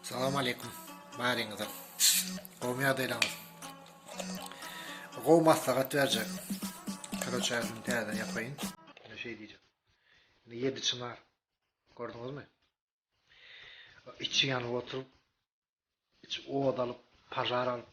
Salam aleýkum baryňyza. Gowymy ýagdaýlaryňyz? Gowy maslahat berjek. Kroçaýyny täzeden ýapaýyn. Ine şeý diýjek. Ine ýedi çynar. Gördüňizmi? Içi ýanyp oturyp, içi ot alyp, pažar alyp,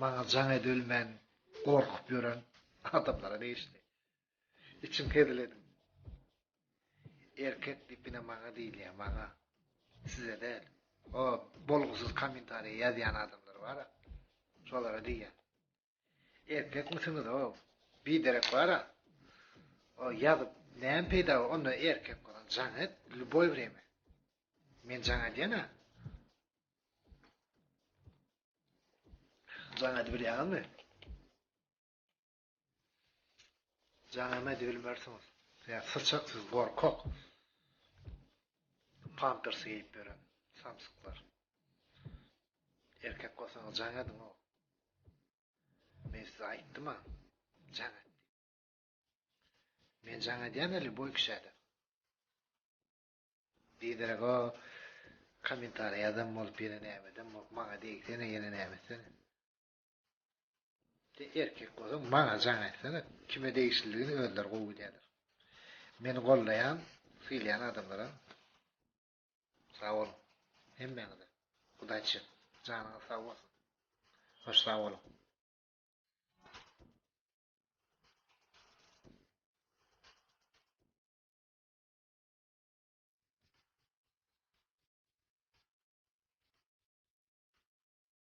maňa jaň edip ölmän gorkup ýören adamlara degişli. Içim hezil edip. Erkek diýip ine maňa diýilýär, maňa. Size däl. O bolgusyz kommentariýa ýazýan adamlar bar-a. Şolara diýýän. Erkekmisiňiz-ow? Biderek bar-a. O ýazyp näme peýda, onda erkek bolan jaň et, lýuboý wremýa. Men jaň edýän-ä. Jaň edip bilýäňizmi? Jaňam edip bilmersiňiz. Sen syçak siz gorkak. Pampers giyip beren samsyklar. Erkek bolsaňyz jaň ediň o. Men size aýtdym ha. Jaň et. Men jaň edýän eli boý kişäde. Diýderek o kommentariýa adam bolup ýene näme edem bolup maňa diýsene ýene näme etsene. Sen erkek bolsaň maňa jaň aýtsana kime degişlidigini özleri gowy bilýärler. Meni gollaýan, sylýan adamlara sag boluň. Hemmäňize udaçi. Janyňyz sag bolsun. Hoş sag boluň.